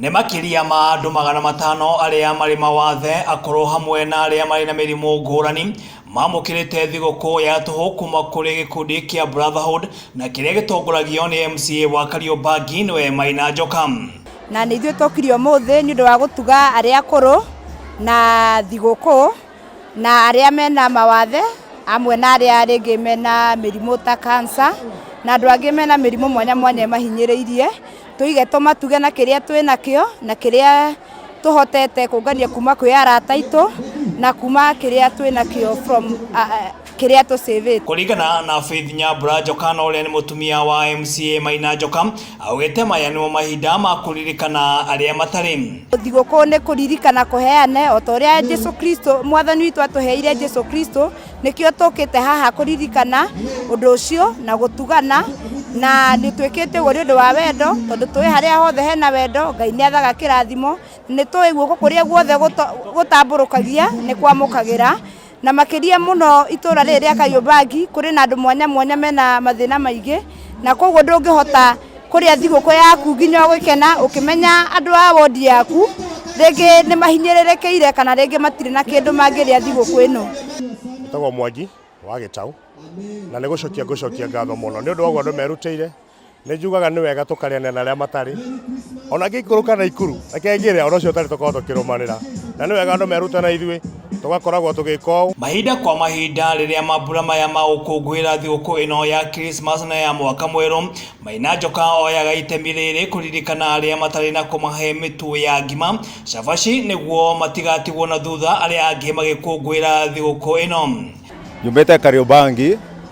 Nĩ makĩria ma andũ magana matano arĩa marĩ mawathe akũrũ hamwe na arĩa marĩ na mĩrimũ ngũrani mamũkĩrĩte thigũkũ ya tũhũ kuma kũrĩ gĩkundi kĩa Brotherhood na kĩrĩa gĩtongoragio nĩ MCA wa Kariombangi nĩwe Maina Njoka. Na nĩ ithuĩ tũkire ũmũthĩ nĩ ũndũ wa gũtuga arĩa akũrũ na thigũkũ. na arĩa mena mawathe amwe na arĩa rĩngĩ mena mĩrimũ ta kansa na andũ angĩ mena mĩrimũ mwanya mwanya ĩmahinyĩrĩirie tũige tũmatuge na kĩrĩa twĩnakĩo na kĩrĩa tũhotete kũngania kuma kwĩ arata aitũ na kuma kĩrĩa twĩnakĩo from kĩrĩa tũ save it. Kũringana na Faith Nyambura Njokana ũrĩa nĩ mũtumia wa MCA Maina Njoka, augĩte maya nĩmo mahinda ma kũririkana arĩa matarĩ. Thigũkũ nĩ kũririkana kũheane o ta ũrĩa Jesu Kristo mwathani witũ atũheire Jesu Kristo, nĩkĩo tũkĩte haha kũririkana ũndũ ũcio na gũtugana na nĩ twĩkĩte ũguo nĩ ũndũ wa wendo tondũ tũĩ harĩa hothe hena wendo Ngai nĩ athaga kĩrathimo, nĩ tũĩ guoko kũrĩa guothe gũta- gũtambũrũkagia nĩ kwamũkagĩra na makĩria mũno itũra rĩrĩ rĩa Kariũmbangi kũrĩ na andũ mwanya mwanya mena mathĩna maingĩ na koguo ndũngĩhota kũrĩa thigũkũ yaku nginya ũgĩkena ũkĩmenya andũ a wondi yaku rĩngĩ nĩ mahinyĩrĩrĩkĩire kana rĩngĩ matirĩ na kĩndũ mangĩrĩa thigũkũ ĩno. Njĩtagwo Mwangi wa Gĩtaũ na nĩ gũcokia ngũcokia ngatho mũno nĩ ũndũ wa ũguo andũ merutĩire Nĩ njugaga nĩ wega tũkarĩanĩra na arĩa matarĩ. O na Ngĩikũrũ kana Ikuru, reke ngĩre, o na ũcio ũtarĩ tũkorwo tũkĩrũmanĩra. Na nĩ wega andũ meruta na ithuĩ, tũgakoragwo tũgĩka ũũ. Mahinda kwa mahinda, rĩrĩa mambura maya ma gũkũngũĩra thigũkũ ĩno ya Krismasi na ya Mwaka Mwerũ, Maina Njoka oyaga itemi rĩrĩ kũririkana arĩa matarĩ na kũmahe mĩtu ya ngima, cabaci nĩguo matigatigwo na thutha arĩa angĩ magĩkũngũĩra thigũkũ ĩno. Nyumĩte Kariũmbangi.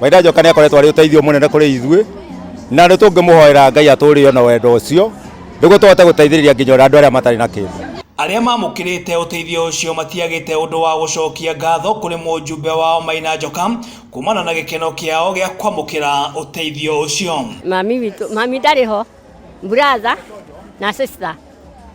Waitha Njoka nä akoretwo arä å teithio må nene kå rä ithuä na nä tå ngä må hoera Ngai atå rä na wendo å cio nä guo tå hote gå teithä rä ria nginya andå arä a matarä na kä ndå. Arĩa mamũkĩrĩte ũteithio ũcio matiagĩte ũndũ wa gũcokia ngatho kũrĩ mũjumbe wao Maina Njoka kumana na gĩkeno kĩao gĩa kwamũkĩra ũteithio ũcio. Mami witũ, mami ndarĩ ho, brother na sister.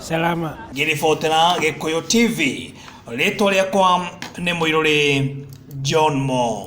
salama ngĩribotera gĩkũyũ tv rĩtwa rĩakwa nĩ mũirũrĩ john mo